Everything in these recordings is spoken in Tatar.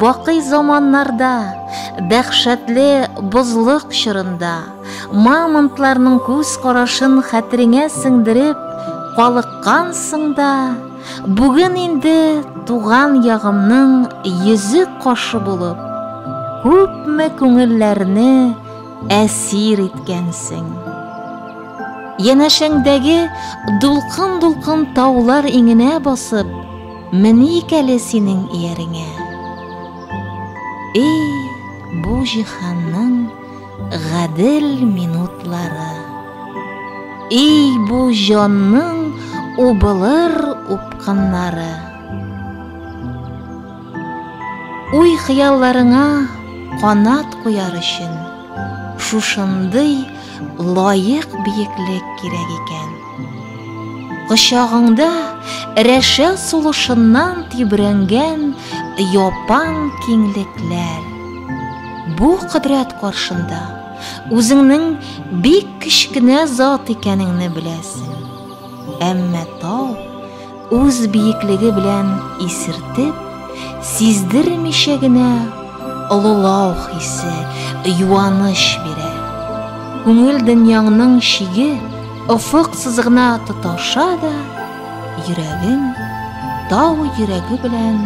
Бакый заманнарда, дәһшәтле бозлык чорында, мамонтларның күз карашын хәтереңә сеңдереп калыккансың да, бүген инде туган ягымның йөзек кашы булып, күпме күңелләрне әсир иткәнсең. Янәшәңдәге дулкын-дулкын таулар иңенә басып, Меник әле синең ияреңә. Эй, бу җиһанның гадел минутлары. Эй, бу җанның убылыр упкыннары. Уй-хыялларыңа канат куяр өчен шушындый лаек биеклек кирәк икән. Кочагыңда рәшә сулышыннан тибрәнгән япан киңлекләр. Бу кодрәт каршында үзеңнең бик кечкенә зат икәнеңне беләсең. Әмма тау Үз биеклеге белән исертеп, сиздермичә генә олылау хисе, юаныч бирә. Күңел дөньяңның шиге офык сызыгына тоташа да, йөрәгең тау йөрәге белән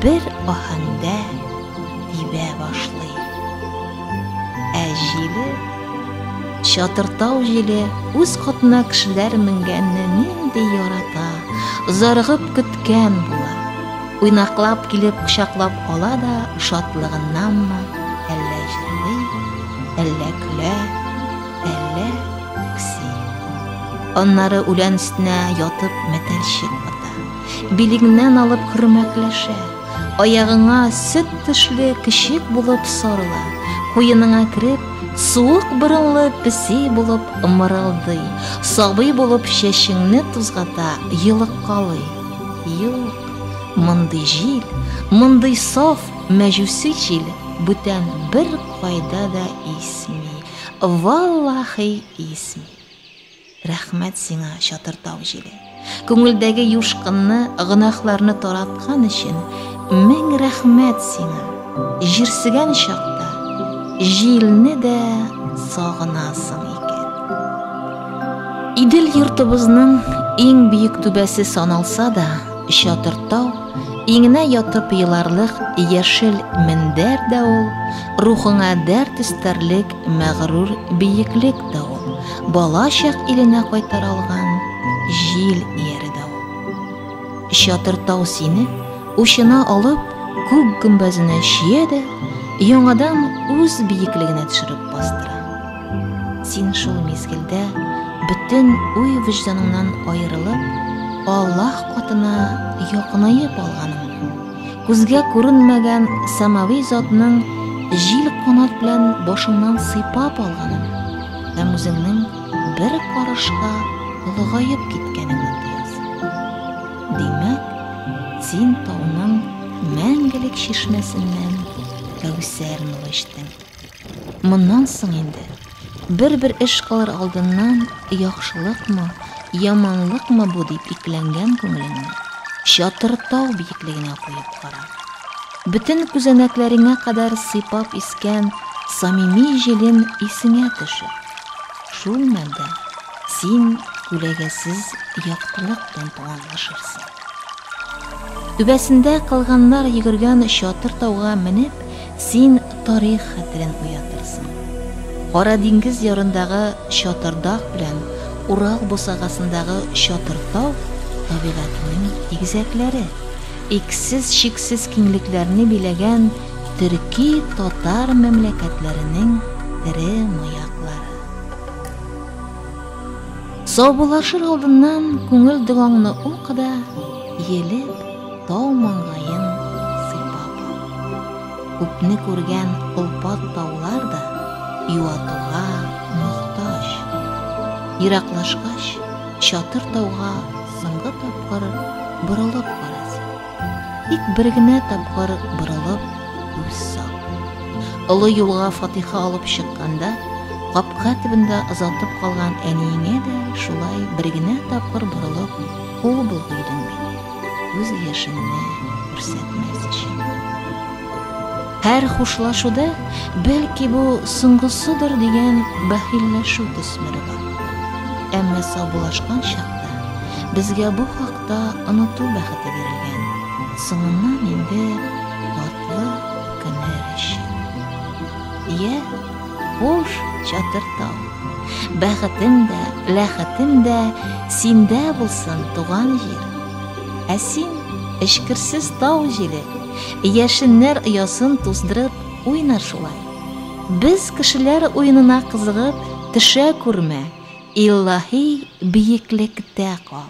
бер аһәңдә тибә башлый. Ә җиле, чатыртау җиле үз котына кешеләр менгәнне нинди ярата, зарыгып көткән була. Уйнаклап килеп кочаклап ала да шатлыгыннанмы, әллә җырлый, әллә көлә, әллә үкси. Аннары үлән өстенә ятып мәтәлчек ата. Билегеннән алып хөрмәкләшә. Аягыңа сөт төшле кечек булып сарыла, куеныңа кереп, суык борынлы песи булып ымырылдый, сабый булып чәчеңне тузгата, йылыккалый. Юк, мондый җил, мондый саф мәҗүси җил бүтән бер кайда да исми. Валлахи исми. Рәхмәт сиңа, чатыр тау җиле! Күңелдәге юшкынны, гөнаһларны тараткан өчен мең рәхмәт сиңа! Җирсегән чакта җилне дә сагынасың икән. Идел йортыбызның иң биек түбәсе саналса да, чатыр тау, иңенә ятып еларлык яшел мендәр дә ул, рухыңа дәрт өстәрлек мәгърур биеклек да ул. Бала чак иленә кайтара алган җил ияре дә ул. Чатыр тау сине учына алып, күк гөмбәзенә чия дә, яңадан үз биеклегенә төшереп бастыра. Син шул мизгелдә бөтен уй-вөҗданыңнан аерылып, Аллаһ катына якынаеп алганың Күзгә күренмәгән самави затның җил канат белән башыңнан сыйпап алганын һәм үзеңнең бер карышка олыгаеп киткәнеңне тоясың. Димәк, син тауның мәңгелек чишмәсеннән кәүсәр нуры эчтең. Моннан соң инде, бер-бер эш кылыр алдыннан, яхшылыкмы, яманлыкмы бу дип икеләнгән күңелеңне чатыр тау биеклегенә куеп кара. Бөтен күзәнәкләреңә кадәр сыйпап искән самими җилем исеңә төшер. Шул мәлдә син күләгәсез яктылык белән туганлашырсың. Түбәсендә калганнар йөгергән чатыр тауга менеп, син тарих хәтерен уятырсың. Кара диңгез ярындагы чатырдак белән Урал бусагасындагы чатыр тау табигатының игезәкләре, иксез чиксез киңлекләрне биләгән төрки татар мәмләкәтләренең тере маяклары. Саубуллашыр алдыннан күңел догаңны ук да, елеп, тау маңгаен сыйпап ал. Күпне күргән олпат таулар да юатуга мохтаҗ. Ераклашкач, чатыр тауга соңгы тапкыр борылып карасын. Тик бер генә тапкыр борылып күз сал. Олы юлга фатиха алып чыкканда, капка төбендә озатып калган әниеңә дә шулай бер генә тапкыр борылып, ул бул өйдең бит. Үз яшеңне күрсәтмәс өчен. Һәр хушлашуда, бәлки бу соңгысыдыр дигән бәхилләшү төсмере бар. Әмма саубулашкан чакта безгә бу хакта Та оныту бәхете бирелгән. Соңыннан инде татлы көннәр өчен. Йә, хуш, чатыр тау. Бәхетем дә, ләхетем дә синдә булсын, туган җир. Ә син, эчкерсез тау җиле, яшеннәр оясын туздырып, уйна шулай. Без кешеләр уенына кызыгып, төшә күрмә, илаһи биеклектә кал.